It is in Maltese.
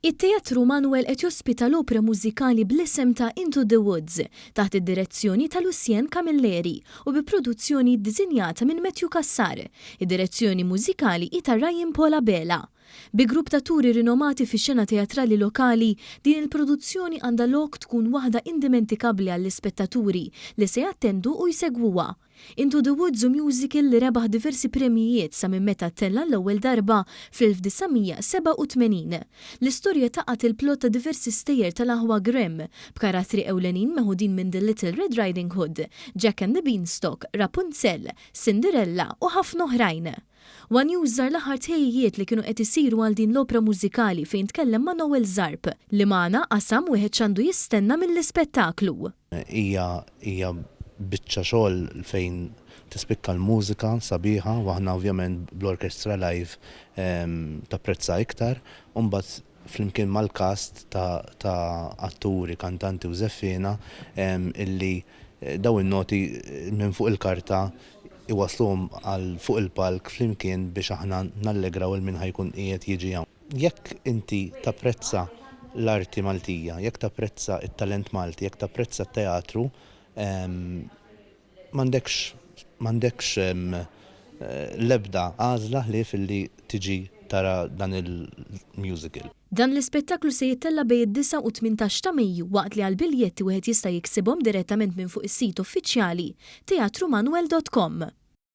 It-Teatru Manwel qed jospita l-opra mużikali bl-isem ta' Into the Woods, taħt id-direzzjoni ta' Lucien Camilleri u bi produzzjoni ddisinjata minn Matthew Cassar. Id-direzzjoni mużikali hi ta' Ryan Paul Abela. Bi grupp t'atturi rinomati fix-xena teatrali lokali, din il-produzzjoni għandha lok tkun waħda indimentikabbli għall-ispettaturi li se jattendu u jsegwuha. Into the Woods hu musical li rebaħ diversi premjijiet sa minn meta ttell' għall-ewwel darba fl-1987. L-istorja taqgħad il-plott ta' diversi stejjer tal-aħwa Grimm, b'karattri ewlenin meħudin minn The Little Red Riding Hood, Jack and the Beanstalk, Rapunzel, Cinderella u ħafna oħrajn. One News żar l-aħħar tħejjijiet li kienu qed isiru għal din l-opra mużikali fejn tkellem ma' Noel Zarb, li magħna qasam wieħed x'għandu jistenna mill-ispettaklu. Hija hija biċċa xogħol fejn tispikka l-mużika sabiħa u aħna ovvjament bl-orkestra live tapprezza iktar u mbagħad flimkien mal-cast ta' ta' atturi, kantanti u żeffiena illi dawn in-noti minn fuq il-karta jwassluhom għal fuq il-palk flimkien biex aħna nallegraw il-min ħa jkun qiegħed jiġi hawn. Jekk inti tapprezza l-arti Maltija, jekk tapprezza t-talent Malti, jekk tapprezza t-teatru, m'għandekx m'għandekx l-ebda għażla ħlief illi tiġi tara dan il-musical. Dan l-ispettaklu se jittella' bej id-disgħa u t-tmintax ta' Mejju waqt li għall-biljetti wieħed jista' jiksibhom direttament minn fuq is-sit uffiċjali theatrumanuel dot com.